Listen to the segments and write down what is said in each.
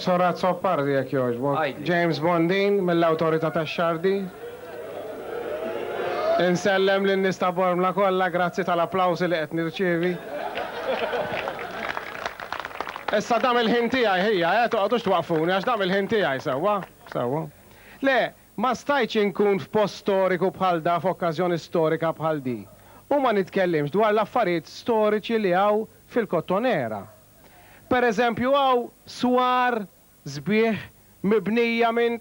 Sor Azzopardi jekk jogħġbok. James Bondin mill-Awtorità tax-Xardi. Insellem lin-nies ta' Bormla kollha, grazzi tal-applawsi li qed nirċievi. Issa dam il-ħin tiegħi ħija eh, toqgħodux twaqqfuni għax dam il-ħin tiegħi, sewwa? Sewwa. Le, ma stajtx inkun f'post storiku bħal da f'okkażjoni storika bħal di u ma nitkellimx dwar l-affarijiet storiċi li hawn fil-Kottonera. Per eżempju hawn swar sbieħ mibnija minn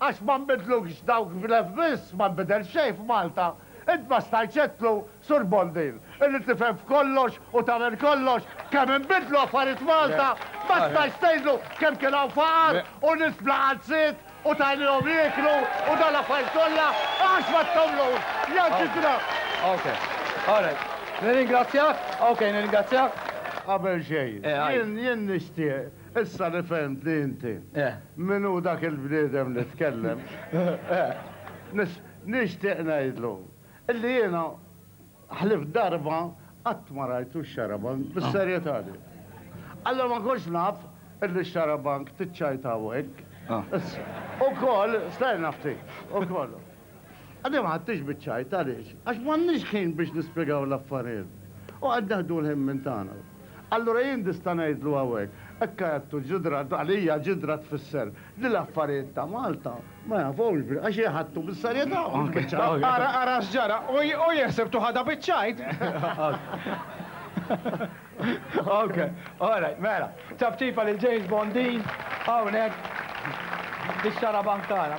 Għax ma nbidlux dawk f'Lef biss, ma nbidel xejn f'Malta. Int ma stajtx għedtlu, Sur Bondin, illi tifhem f'kollox u tagħmel kollox, kemm inbidlu affarijiet f'Malta? Ma stajtx tgħidlu kemm kien hawn faqar u nies bla qalziet u tajnihom jieklu u dawn l-affarijiet kollha? Għax ma tagħmlux? Jew xi dramm? Nirringrazzjak. Qabel xejn, jien nixtieq. Issa li fehmt li inti min hu dak il-bniedem li tkellem, nixtieq ngħidlu li jiena ħlief darba qatt ma rajtu x-xarabank bis-serjetà li. Alla ma kontx naf li x-xarabank tiċċajtaw hekk. Ukoll, stenna ftit, ukoll. Għadni ma ħadtix biċ-ċajt, għaliex? Għax m'għandniex ħin biex nispjegaw l-affarijiet. U qed neħdu l-ħin minn tagħna. Allura jien nista' ngħidlu hawnhekk, hekk għedtu ġidra, għalija ġidra tfisser li l-affarijiet ta' Malta ma jafhomx bi, għax jħadtu bis-serjetà u mhux biċ-ċajt. Ara, ara x'ġara, u jeħseb tu ħadha biċ-ċajt! Ok, all right, mela. Ċafċifa lil James Bondin hawnhekk fix-xarabank tagħna.